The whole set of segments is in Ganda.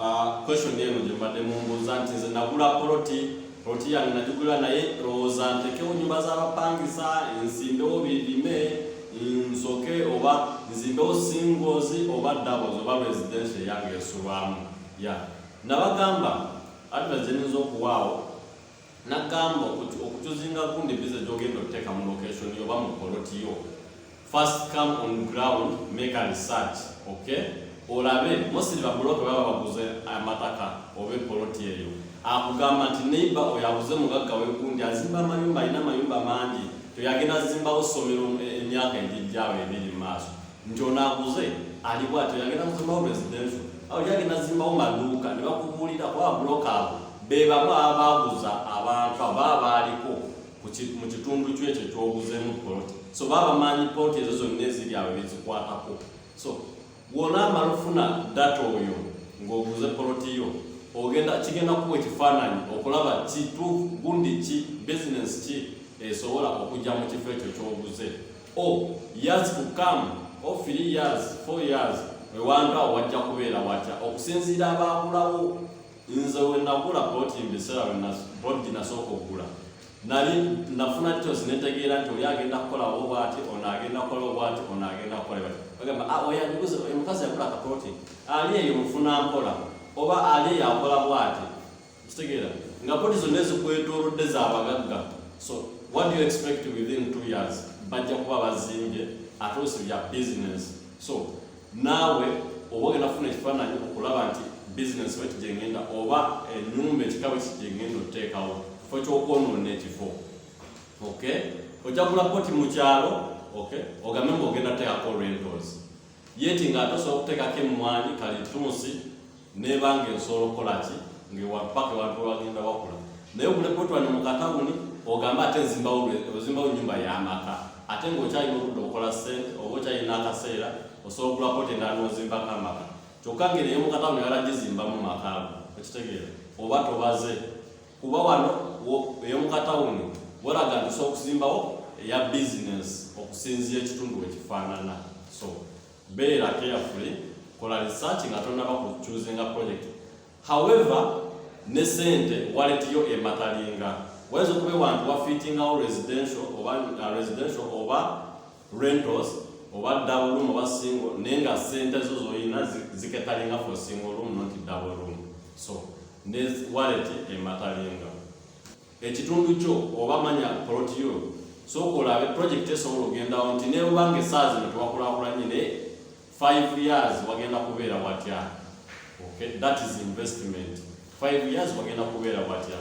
Ah, question eno gye mbadde mumbuuza nti nze nagula poloti poloti yange nagigula naye lowooza ntekewo nyumba z'abapangisa nsimbewo birime nsoke oba nzimbewo singles oba doubles oba residential yange esulwamu ya nabagamba advise gyenyinza okuwaawo nagamba okutuzinga gundi biza gyogenda okuteeka mu location yo oba mu poloti yo first come on ground make a research okay olabe mosiri babuloke baba baguze amataka oba epoloti eyo akugamba nti neiba oyo aguze mugagga wegundi azimba amayumba alina amayumba mangi toyagenda zimbawo somero emyaka egijjawo ebiri mu maaso nti ono aguze ali bwati yagenda kuzimbawo residential awo yagenda zimbawo maduuka ne bakubuulira kuba buloka abo be bamu abaaguza abantu aba abaaliko mu kitundu kyo ekyo kyoguzeemu poloti so baba bamanyi poloti ezo zonna eziri awo ebizikwatako so wona amala ofuna data oyo ng'oguze poloti yo ogenda kigenda kuwa ekifaananyi okulaba kituufu gundi ki bizinesi ki esobola okujja mu kifo ekyo kyoguze oh years to come or oh, three years four years ewanga wajja kubeera watya okusinziira abaakulawo nze wenakula boti mbiseera boti nasooka okugula nali nafuna kitosi netegeera nti oli agenda kukolawo bwati ono agenda kukolawo bwati ono agenda kukola bati bagamba ah, oyaniguze omukazi yakula kaproti ali eyo mufuna mpola oba ali eyo akola bwati kitegeera nga poti zonna ezikwetoolodde za bagagga so what do you expect within two years bajja kuba bazimbye ate osi bya business so naawe oba ogenda kufuna ekifaananyi okulaba nti business weti gyengenda oba enyumba ekikawe ki gyengenda oteekawo kifo kyokwonoona ekifo okay ojja kula poti mu kyalo okay ogambe mbu ogenda teekako rentals yeti nga atosa okutekako emmwanyi kalitunsi neba nga ensobola okukola ki ngewapaka ewantu wagenda wakula naye okulekotwani mu katawuni ogamba ate nzimbawo ozimbawo nyumba yamaka ate ngaokyalina okudda okukola sente oba okyalina akaseera osobola okulako ti nga nozimbako amaka kyokka ngeri eyomukatawuni yalagizimbamu makaago okitegeera oba tobaze kuba wano eyomukatawuni wolaga nti osobola okuzimbawo eya bizinesi okusinzira ekitundu wekifaanana so beera carefully kola research nga tonaba ku choosinga project however ne sente waletiyo ematalinga wayinza okuba ewantu wafitingawo residential oba uh, residential oba rentals oba double room oba single naye nga sente zo zolina ziketalinga for single room not double room so ne wallet ematalinga ekitundu kyo oba manya poloti yo sooka olabe project esobola ogendawo nti nebanga esaazi netwakulakulanye naye five years wagenda kubeera watya okay that is investment five years wagenda kubeera watya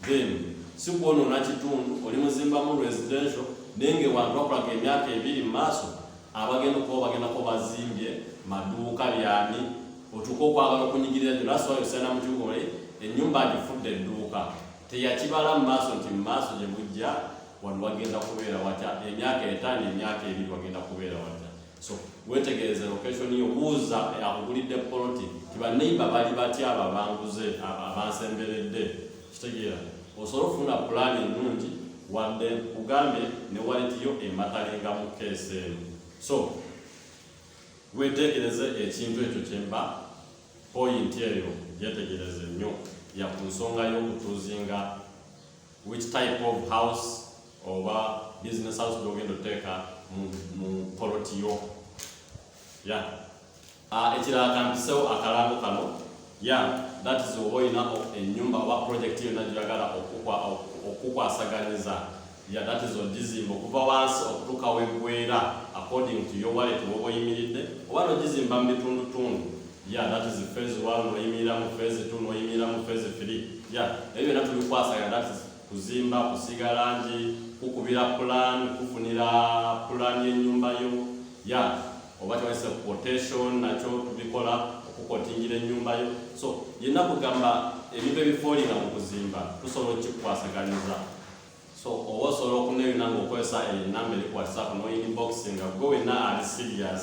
then sikwonona kitundu oli muzimbamu residential naye nga ewantu bakulaga emyaka ebiri mu maaso abagenda okuba bagendako bazimbye maduuka byani otuuka okwagala okunyigirira gyo nasoa yosaina mu kibuga oli ennyumba agifudde edduuka teyakibala mu maaso nti mu maaso gye bujja wano wagenda kubeera watya emyaka etaano emyaka ebiri wagenda kubeera watya so wetegereze location yo buuza akugulidde poloti ti baneiba bali batya abo abanguze abansemberedde kitegeera osobola okufuna pulaani ennungi wadde kugambye ne waleti yo ematalenga mu keesi eno so wetegereze ekintu ekyo kyemba poyinti eyo gyetegereze nnyo ya ku nsonga y'okutuuzinga which type of house oba business house gyogenda oteeka mu poloti yo ya ah, ekirala kampisewo akalango kano ya that is oba olina enyumba oba project yonna gyoyagala okukwasaganyiza ya that is ogizimba okuva wansi okutuuka wegwera according to your wallet woba oyimiridde oba nogizimba mu bitundutundu ya that is phase one noyimirira mu phase two noyimirira mu phase three ya ebyo byonna tubikwasaganya that is kuzimba, kusiiga langi, kukubira plan, kufunira plan y'ennyumba yo ya oba kyawese quotation nakyo tubikola okukotingira ennyumba yo so yenna kugamba ebintu ebifoolira mu kuzimba tusobola okikukwasaganyiza so oba osobola okuneyuna ngaokozesa enamba eri ku whatsapp noinbox nga gwe wenna ali serious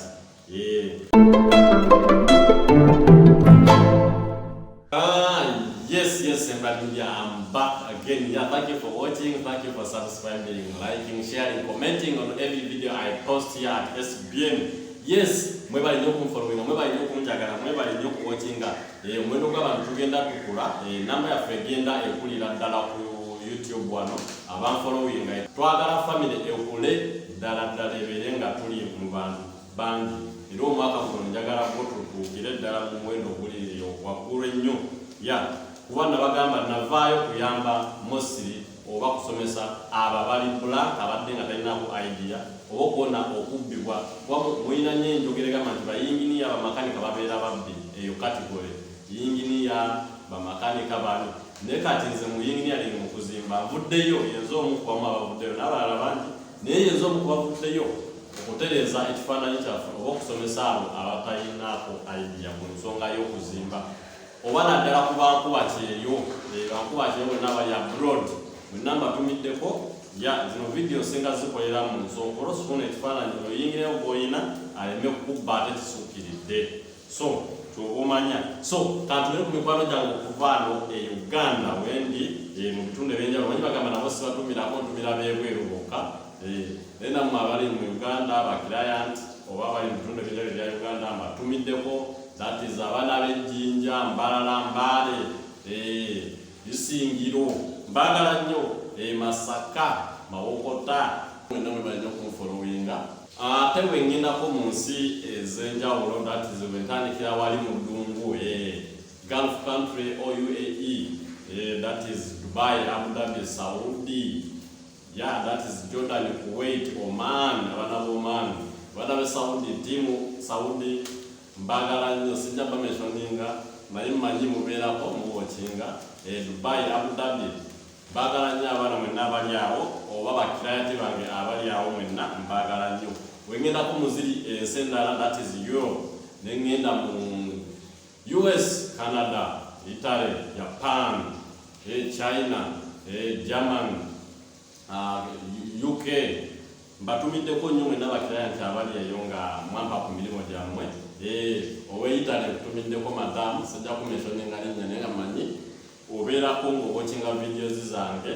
Ah, yes, yes, everybody, we are back again. Yeah, thank you for watching. Thank you for subscribing, liking, sharing, commenting on every video I post here at SBN. Yes, mwebali nnyo okunfolowinga mwebali nnyo okunjagala mwebali nnyo okuwokinga eh, omuwendo gw'abantu tugenda tukula eh, namba yaffe egenda ekulira ddala ku youtube wano abanfolowinga twagala famire ekule ddala ddala ebeere nga tuli mu bantu bangi era omwaka guno njagala ko tutuukire ddala mu muwendo oguliriyo waggulu ennyo ya kuba nabagamba navaayo kuyamba mosiri oba kusomesa abo abali blank abadde nga talinako idea oba okuwona okubbibwa kuba mulina nyo enjogera egamba nti bayinginiya bamakanika babeera babbi eyo katigole yinginiya bamakanika bani naye kati nze mu yinginiyalingi mu kuzimba nvuddeyo yenze omu ku bamu abavuddeyo n'abalala bangi naye yenze omu ku bavuddeyo okutereeza ekifaananyi kyaffe oba okusomesa abo abatalinaako idea mu nsonga y'okuzimba oba naddala ku bankuba kyeyo eh, bankuba kyeyo bonna bali abroad mwenna mbatumiddeko ya zino vidiyo nsinga zikolera mu nsonga olwosifuna ekifaananyi oyingireyo gwolina aleme kubba ate kisuukiridde so kyogumanya so kantulere ku mikwano gyange okuvaano e uganda wendi eh, mu bitundu ebyenjawulo manyi bagamba nabo sibatumirako ntumira bebweru bokka eh, naye namwe abali mu uganda bakirayant oba abali mu bitundu ebyenjawulo ebya uganda mbatumiddeko that is abaana b'ejjinja mbalala mbaale eh, bisingiro mbagala nnyo emasaka mawokota mwenna mwemanyi okunfolowinga Ate bwe ngendako mu nsi ez'enjawulo that is bwe ntandikira wali mu ddungu eh, Gulf country or UAE eh, that is Dubai, Abu Dhabi, Saudi yeah that is Jordan, Kuwait, Oman abana b'Oman abana be Saudi timu Saudi mbagala nnyo sijja bameshoninga naye mmanyi mubeerako muwokinga eh, Dubai, Abu Dhabi Mbaagala nnyo abaana mwenna abali awo, oba bakirayati bange abali awo mwenna, mbaagala nnyo. Bwe ŋŋendako mu ziri ensi endala, that is Europe, ne ŋŋenda mu US, Canada, Italy, Japan, eh, China, eh, German, ah, UK, mbatumiddeko nnyo mwenna bakiraya nti abali eyo nga mwampa ku mirimu gyammwe eh, ow'e Italy nkutumiddeko madamu, sijja kumenshoninga linnya naye nga mmanyi obeerako nga owokinga videos zange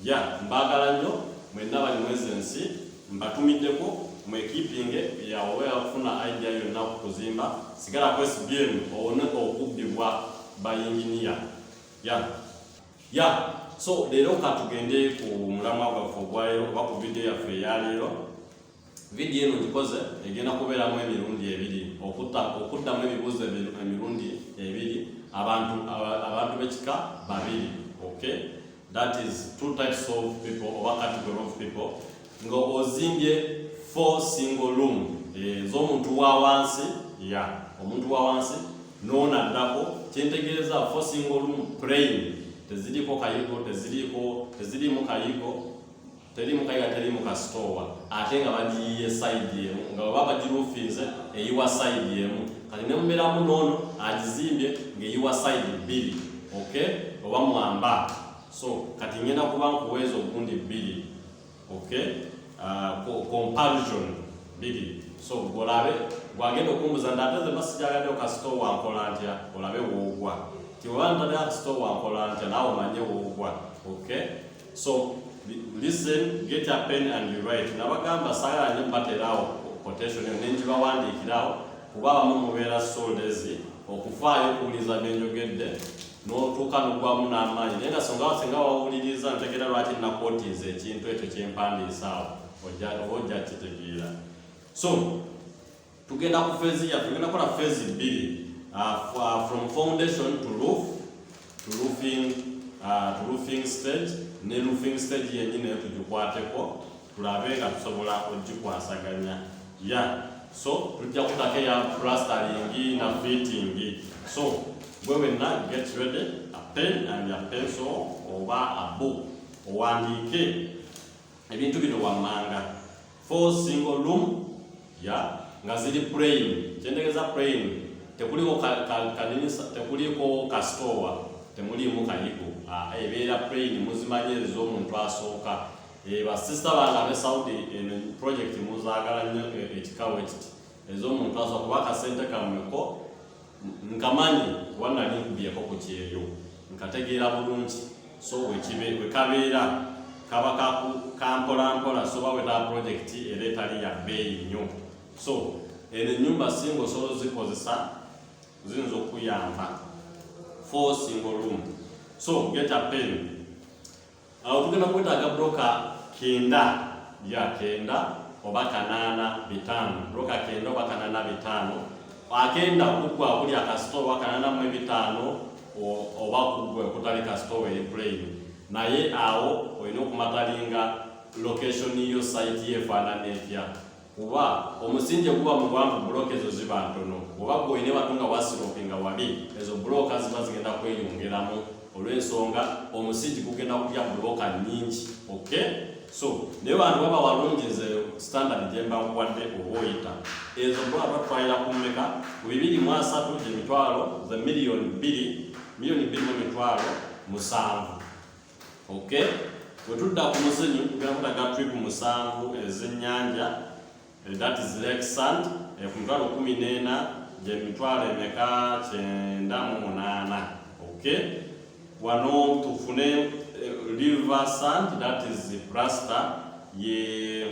ya mbaagala nnyo mwenna bali mwezi ensi mbatumiddeko mwekipinge yaweera kufuna idea yonna ku kuzimba sigala ku sbm owone okubbibwa bayinginiya ya ya so leero katugende ku mulamwa gwaffe ogwaleero oba ku vidiyo yaffe eyaleero vidiyo eno gikoze egenda kubeeramu emirundi ebiri okuddamu ebibuuzo emirundi ebiri abantu abantu b'ekika babiri okay that is two types of people oba category of people nga ozimbye four single room eh, ez'omuntu wa wansi ya omuntu wa wansi noona addako kyentegeeza four single room praying teziriko kayigo teziriko tezirimu kayigo teri mukayira teri mukasitoowa ate nga bagiyiye sayidi emu nga baba bagirufinze eyiwa sayidi emu kati ne mumeramu noono agizimbye ng'eyiwa sayidi bbiri ok oba mwamba so kati ngenda kuba nkuweeza ogundi bbiri ok ah, comparison bbiri so olabe gwagenda okumbuza nti ate zeba sijagadde okasito wankola ntya olabe woogwa tiwebantadde akasito wankola ntya naawe omanye woogwa okay so listen get a pen and you write nabagamba sala ne baterawo quotation yo nenji bawandikirawo kuba abamu mubeera soldezi okufaayo okuwuliriza byenjogedde n'otuuka nogwamu n'amaanyi naye nga songa wasinga wawuliriza ntegera lwaki nakwotiiza ekintu ekyo kyempandiisaawo oba ojja kitegeera so tugenda ku phase ya tugenda kola phase mbili uh, uh, from foundation to roof to roofing uh, to roofing stage ne roofing stage yenyine nayo tugikwateko tulabe nga tusobola ogikwasaganya ya so tujja kutako eya plastering na fitting so gwe wenna get ready a pen and a pencil oba a book owandiike ebintu bino wammanga four single room ya nga ziri plain kyentegeza plain tekuliko kaninisa tekuliko kasitowa temuliimu kayigo ah, ebeera plain muzimanyi ezo omuntu asooka eh, basista bange abe saudi eno project muzaagala nnyo eh, ekikawo ekiti ez'omuntu asooka kuba akasente kamweko nkamanyi kuba nali nkubyeko ku kyeyo nkategeera bulungi so wekabeera kaba kampolampola soba weta pulojekiti era etali ya bbeeyi nnyo so eno ennyumba singa osobola ozikozesa ziyinza okukuyamba fo single room so get a pen awo tugenda kwetaaga buloka kenda ya kenda oba kanaana bitaano buloka kenda oba kanaana bitaano agenda kuggwa buli akasitoowa kanaana mu ebitaano oba kuggwa okutali kasitoowa eri puleyini naye awo olina okumatalinga location yo site yefaanana etya kuba omusingi guba muwanvu bulooka ezo ziba ntono oba gwoyina ebatu nga wasiropi nga wabi ezo bulooka ziba zigenda kweyongeramu olw'ensonga omusingi gugenda kulya bulooka nyingi ok so naye bantu baba walungi nze standard gyembakuwadde oba oyita ezo bulooka twayira ku mmeka ku bibiri mu asatu gye mitwalo ze miliyoni bbiri miliyoni bbiri mu mitwalo musanvu Okay, bwe tudda ku muzinyu tugenda kutaga tripu musanvu ez'ennyanja eh, that is lake sand eh, ku mitwalo kumi n'ena gye mitwalo emeka kyenda mu munaana okay wano tufune eh, river sand that is plaster ye yeah.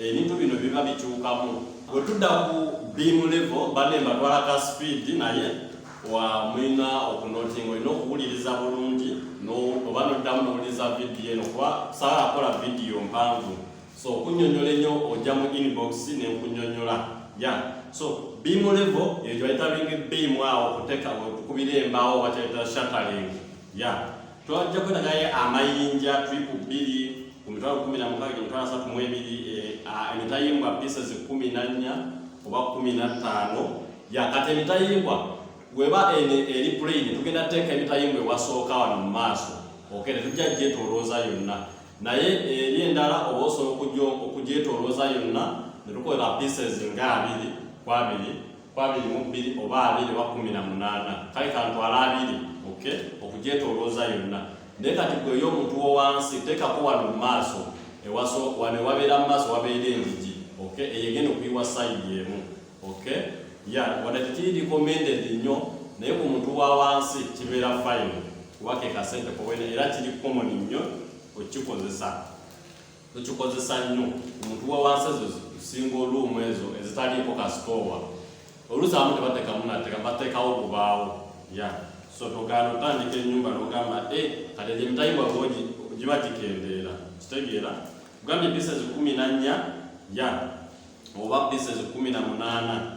ebintu bino biba bikyukamu bwe tudda ku beam level bane mbatwala ka speed naye wa mulina okunotinga olina okuwuliriza bulungi oba noddamu nowuliriza vidiyo eno kuba saala akola vidiyo mpanvu so okunyonyola enyo ojja mu inbox nenkunyonyola ya so beam level ekyo bayita ringi beam awo okuteka okukubira embaawo bakyayita shataling ya Twajja kwenda naye amayinja tripu bbiri ku mitwalo kkumi na mukaaga gye mitwalo asatu mu ebiri eh, emitayimbwa pieces kkumi na nnya oba kkumi na ttaano yakati emitayimbwa weba ene eri plain tugenda teeka emitayimbwa ewasooka wano mu maaso okay ne tujja gyetolooza yonna naye eh, eri endala oba osobola okugyetolooza yonna ne tukolera pieces nga abiri ku abiri ku abiri mu bbiri oba abiri oba kumi na munaana kale kantwala abiri ok okugyetolooza yonna naye kati gwe yo omuntu wo wansi teekako wano mu maaso ewaso wano ewabeera mu maaso wabeera enjiji ok eyo egenda okuyiwa sayidi emu ok ya wadde tekiri recommended nnyo naye ku muntu wa wansi kibeera fine kuba ke kasente kowena era kiri common nnyo okikozesa tukikozesa nnyo omuntu wewansi ezo singa oluumu ezo ezitaliiko kasitoowa oluusi abamu tebatekamu nateka batekawo bubaawo ya so togaana otandika enyumba nogamba e eh, kati egyo emitayibwa bogi giba gikendeera kitegeera ogambye pieces kumi na nnya ya oba pieces kumi na munaana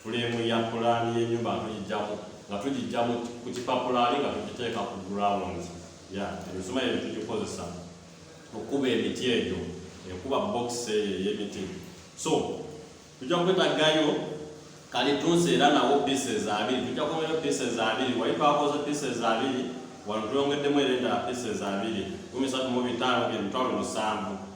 Fuleemu ya pulaani y'ennyumba nga tugijjamu nga tugijjamu ku kipapula ali nga tugiteeka ku ground ya emisumaali ebyo tugikozesa okukuba emiti egyo ekuba box eyo ey'emiti so tujja kwetagayo kalitunsi era nawo pieces abiri tujja kwongerayo pieces abiri wali twakoze pieces abiri wano tweyongeddemu era endala pieces abiri kumi satu mu bitaano emitwalo musanvu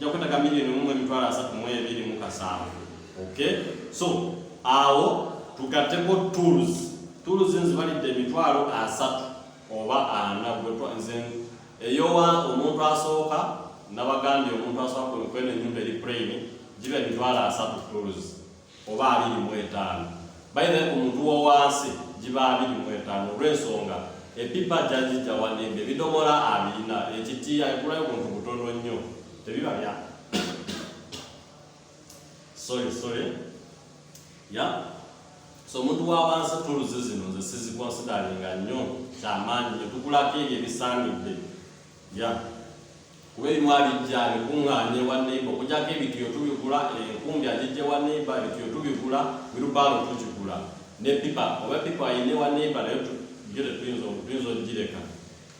jakwetaga milioni mumwe emitwalo asatu mu ebiri mu kasanvu okay so awo tugateko tools tools nzibalidde emitwalo asatu oba ana nze eyowa omuntu asooka nabagambye omuntu asooka kwenkwena enyumba eri plain giba emitwalo asatu tools oba abiri mu etaano bayina ku muntu wowansi giba abiri mu etaano olw'ensonga epipa jajijja wanimba ebidomola abirina ekitiya ekulayo muntu butono nnyo tebiba bya sorry sorry ya yeah. so omuntu wawansi tuluzi zino nze sizikonsidalinga nnyo kyamaanyi nyo tukulako ebyo ebisaanidde ya yeah. kuba ebimu abijja abikuŋŋaanya ewa neiba okujjako ebitiyo tubigula enkumbi agijja ewa neiba ebitiyo tubigula wirubaalo tugigula ne pipa oba pipa ayina ewa neiba naye byo tetuyinza tuyinza okugireka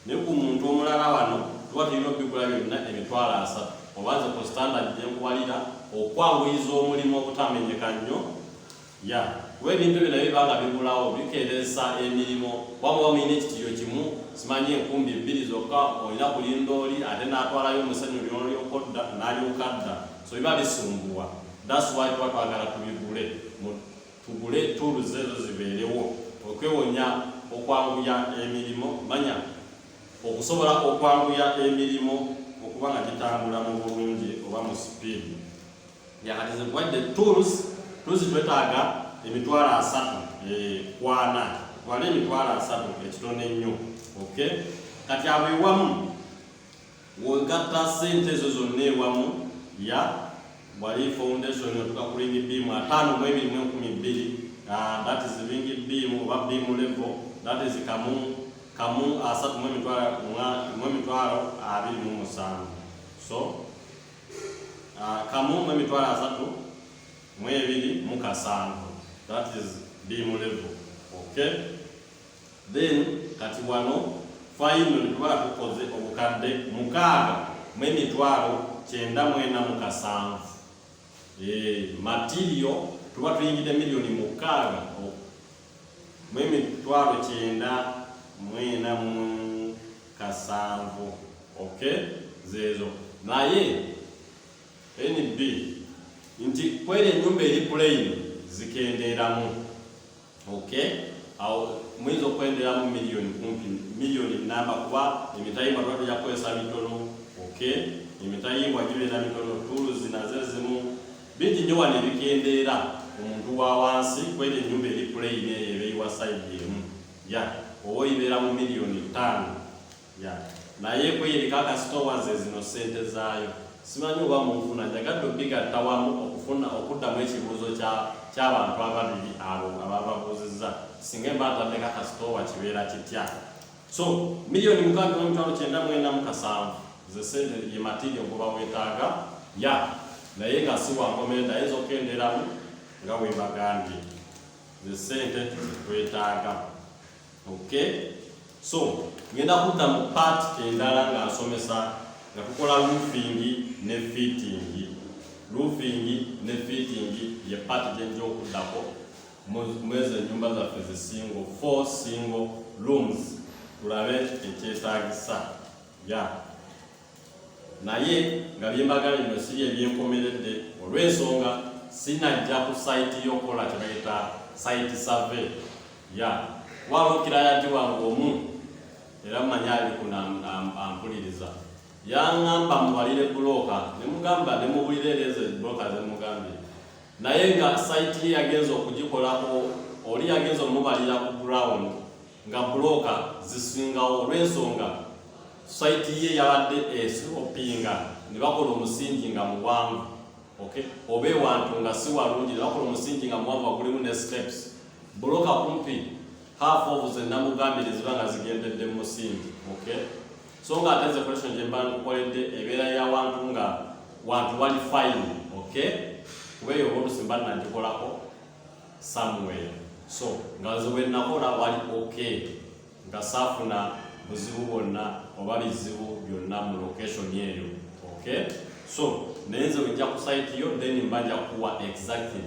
naye ku muntu omulala wano tuba tulina okubigula byonna emitwalo asatu oba nze ku standard gye nkuwalira okwanguyiza omulimu obutamenyeka nnyo Ya, kuba ebintu ebyo nabyo biba nga bibulawo, bikeeresa emirimu. Kuba muba mulina ekitiiyo kimu, simanyi enkumbi bbiri zokka, olina kulinda oli ate n'atwalayo omusenyu oli n'olyoka odda, n'alyoka adda. So biba bisumbuwa. That's why tuba twagala tubigule, mu, tugule tools ezo zibeerewo, okwewonya, okwanguya emirimu, manya, okusobola okwanguya emirimu okuba nga gitambula mu bulungi oba mu sipiidi. yakatizibwadde tools tools twetaaga emitwalo asatu eh, kwana wala emitwalo asatu ekitono ennyo ok kati abo ewamu wegatta sente ezo zonna ewamu ya wali foundation otuka ku ringi biimu ataano mu ebiri mu enkumi bbiri ah, that is ringi biimu oba biimu level that is kamu kamu asatu mu emitwalo abiri mu musanvu so ah, kamu mu emitwalo asatu mu ebiri mu kasanvu that is be mu level okay then kati wano finally tuba tukoze obukadde mukaaga mu emitwalo kyenda mwena mu kasanvu eh, material tuba tuyingidde miliyoni mukaaga mu emitwalo kyenda mu ena mu kasanvu ok zeezo naye nb nti kweri enyumba eri plain zikendeeramu ok awo muyinza okwendeeramu miliyoni kumpi miliyoni namba kuba emitayimbwa tuba tujja kukozesa mitono ok emitayimbwa gibeera mitono tuulu zinaze zimu Bingi nnyo wano ebikendeera omuntu wa wansi kw'eto ennyumba eri puleyini eyo ebeyiwa sayidi emu. Ya, oba oyibeera mu miliyoni ttaano. Ya. Naye kw'eyo eriko akasitoowa, ze zino ssente zaayo. Ssimanyi oba munfuna. Njagadde okubigatta wamu okufuna, okuddamu ekibuuzo kya, ky'abantu ababiri abo abaababuuzizza, Ssinga mba ntaddeko akasitoowa kibeera kitya? so milioni mukaaga mu mitwalo kyenda mwenda mu kasanvu ze sente ye material gwe bawetaaga ya naye nga si wankomenda ayinza okukenderamu nga webagambye ze sente zetwetaaga okay so ngenda kudda mu part endala nga nsomesa nga tukola roofing ne fitting roofing ne fitting ye part gyenja okuddako Mwezo enyumba zaffe zi single, four single rooms tulabe ekyetagisa ya naye nga byembagala bino si bye byenkomeredde olw'ensonga sinajja ku sayiti y'okukola kye bayita sayiti save ya waba okirayanti wange omu era manya ali kunampuliriza yaŋamba muwalire bulooka ne mugamba ne mubulira ereezo bulooka ze mugambye naye nga site ye yagenza okugikolako oli yagenza omubalira ku ground nga buloka zisingawo olw'ensonga site ye yabadde esopinga ne bakola omusingi nga muwanvu okay oba ewantu nga si walungi ne bakola omusingi nga muwanvu wagulimu ne steps buloka kumpi half of ze namugambire ziba nga zigendedde mu musingi okay so nga ate zekolation gye mba nkukoledde ebeera ya wantu nga wantu wali fine ok kuba eyo olusi mba nagikolako somewhere so nga nze wenakola wali ok nga saafuna buzibu bwonna oba bizibu byonna mu location eyo ok so naye nze wejja ku site yo then mba nja kuwa exactly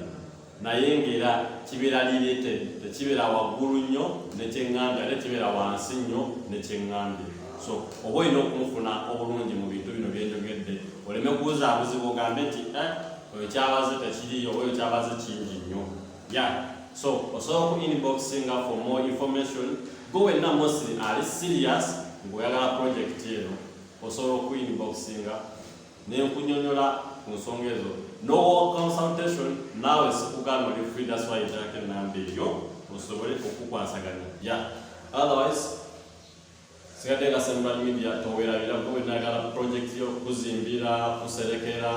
naye ng'era kibeera lirete tekibeera waggulu nnyo nekyeŋŋambya ate kibeera wansi nnyo nekyeŋŋambye so oba olina okumufuna obulungi mu bintu bino byenjogedde oleme kubuzaabuzibu ogambe nti eh, oyo kyabaze tekiriyo oba oyo kyabaze kingi nnyo ya so osobola ku inboxinga for more information go wenna mosiri ali serious ng'oyagala projekiti eno osobola oku inboxinga nenkunyonyola ku nsonga ezo no consultation naawe sikugaana oli free that's why njako enamba eyo osobole okukwasaganya ya otherwise sigadde nga central media towerabira kuba enagala project yo kuzimbira kuserekera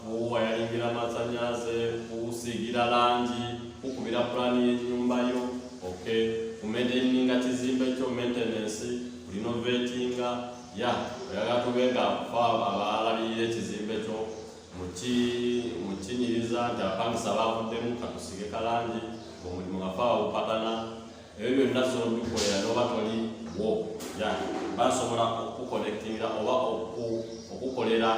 kuwayalingira amasanyaze kusiigira langi kukubira pulaani y'ennyumba yo okay kumedeninga kizimba ekyo maintenance renovatinga ya oyagala tube nga fa abalabirira ekizimbe kyo mukinyiriza nti abapangisa bavuddemu katusige kalangi omulimu nga faawa bupatana ebyo byonna sobola obikolera noba toli wo ya basobola okukukonektingira oba okukolera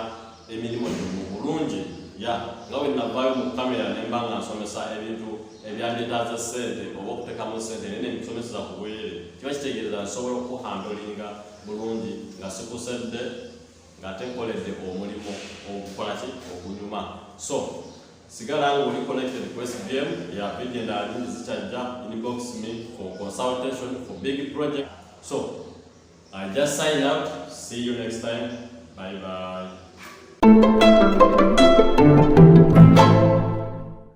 emirimu gyo mu bulungi ya nga bwe navaayo mu kamera ne mba nga nsomesa ebintu ebyandetaaza ssente oba okuteekamu ssente naye ne mbisomeseza ku bwerere kiba kitegeereza nsobola okukuhandolinga bulungi nga sikusedde ng'ate nkoledde omulimu ogukola ki ogunyuma so sigala nga oli connected ku sbm ya video endala nyingi zikyajja inbox me for consultation for big project so i just sign out see you next time bye bye